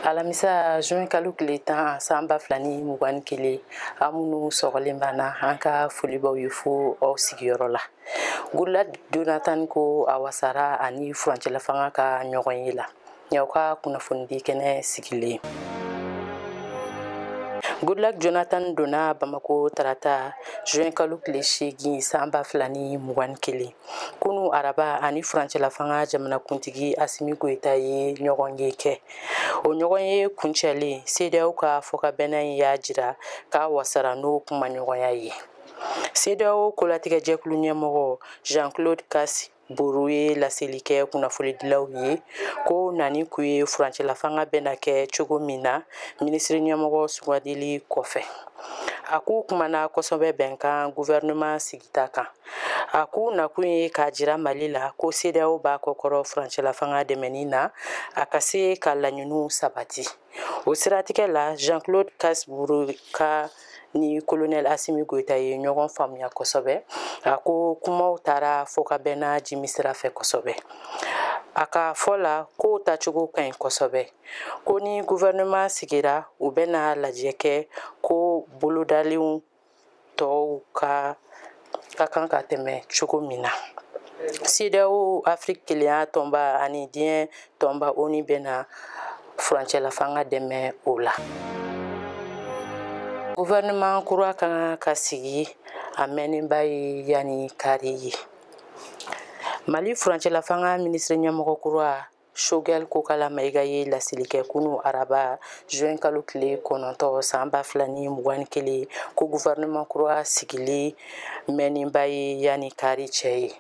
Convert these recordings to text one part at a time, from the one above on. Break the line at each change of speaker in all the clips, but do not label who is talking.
alamisa juin kalo tile tan san ba fila ni mugan ni kelen aw minnu sɔgɔlen b'an na an ka foli b'aw ye fo aw sigiyɔrɔ la goodluck jonathan ko a wasara a ni furancɛlafanga ka ɲɔgɔnye la y'aw ka kunnafonidi kɛnɛ sigilen goodluck jonathan donna bamako tarata juin kalo tile seegin san ba fila ni mugan ni kelen kunu araba a ni furancɛlafanga jamanakuntigi asimi goyita ye ɲɔgɔnye kɛ o ɲɔgɔnye kuncɛlen cedeao ka fɔkabɛnna in y'a jira k'a wasara n'o kumaɲɔgɔnya ye cedeao kolatigɛjɛkulu ɲɛmɔgɔ jean claude kassi brou ye laseli kɛ kunnafonidilaw ye k'u nani kun ye furancɛlafanga bɛna kɛ cogo min na minisiri ɲɛmɔgɔ sugandili kɔfɛ a k'u kumana kosɛbɛ bɛnkan gouvernement sigita kan a k'u nakun ye k'a jira mali la ko cedeao b'a kɔkɔrɔ furancɛlafanga dɛmɛni na a ka se ka laɲiniw sabati o siratigɛ la jean claude kassi brou k'a ni kolonɛl asimi goyita ye ɲɔgɔn faamuya kosɛbɛ a ko kumaw taara fɔkabɛnna jimi sira fɛ kosɛbɛ a ka fɔ la kow tacogo ka ɲi kosɛbɛ ko ni gouvernement sigira u bɛna lajɛ kɛ ko bolodalenw tɔw ka kan ka tɛmɛ cogo min na CEDEAO Afiriki kelenya tɔnba ani diɲɛ tɔnba ONU bɛna furancɛlafanga dɛmɛ o la. Gouvernement kura ka kan ka sigi a mɛnnenba ye yanni kari ye. Mali furancɛlafanga minisiri ɲɛmɔgɔ kura Shogɛl Kokala Mayiga ye laseli kɛ kunu araba juin kalo tile kɔnɔntɔn san ba fila ni mugan ni kelen ko gouvernement kura sigili mɛnnenba ye yanni kari cɛ ye.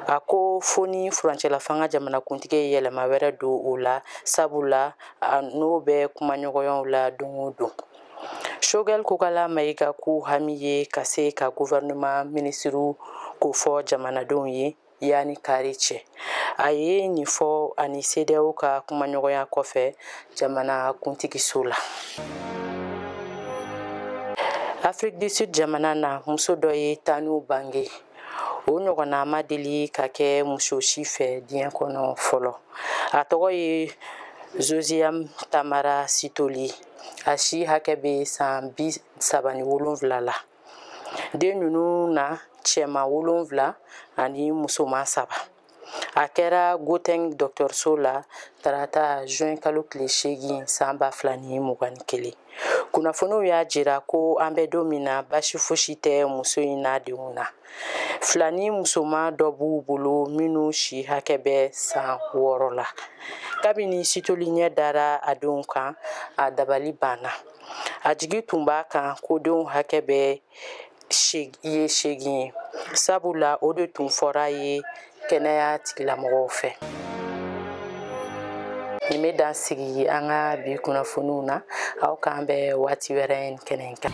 A ko fo ni furancɛlafanga jamanakuntigi ye yɛlɛma wɛrɛ don o la sabula a n'o bɛ kumaɲɔgɔnyaw la don o don. Shogɛl Kokala Mayiga k'u hami ye ka se ka gouvernement minisiriw kofɔ jamanadenw ye. yanni kari cɛ a ye nin fɔ a ni cedeao ka kumaɲɔgɔnya kɔfɛ jamanakuntigiso la afrique du sud jamana na muso dɔ ye tanninw bange o ɲɔgɔnna ma deli ka kɛ muso si fɛ diɲɛ kɔnɔ fɔlɔ a tɔgɔ ye zoziyam tamara sitoli a si hakɛ bɛ san bi saba ni wolonwula la den ninnu na cɛma wolonfila ani musoma saba a kɛra gauteng dɔgɔtɔrɔso la tarata juin kalo tile seegin san ba fila ni mugan ni kelen kunnafoniw y'a jira ko an bɛ don min na basi fosi tɛ muso in n'a denw na filani musoma dɔ b'u bolo minnu si hakɛ bɛ san wɔɔrɔ la kabini sithole ɲɛ dara a denw kan a dabali banna a jigi tun b'a kan ko denw hakɛ bɛɛ ye seegin ye sabula o de tun fɔr'a ye kɛnɛya tigilamɔgɔw fɛ nin bɛ dan sigi an ka bi kunnafoniw na aw k'an bɛn waati wɛrɛ nin kɛnɛ kan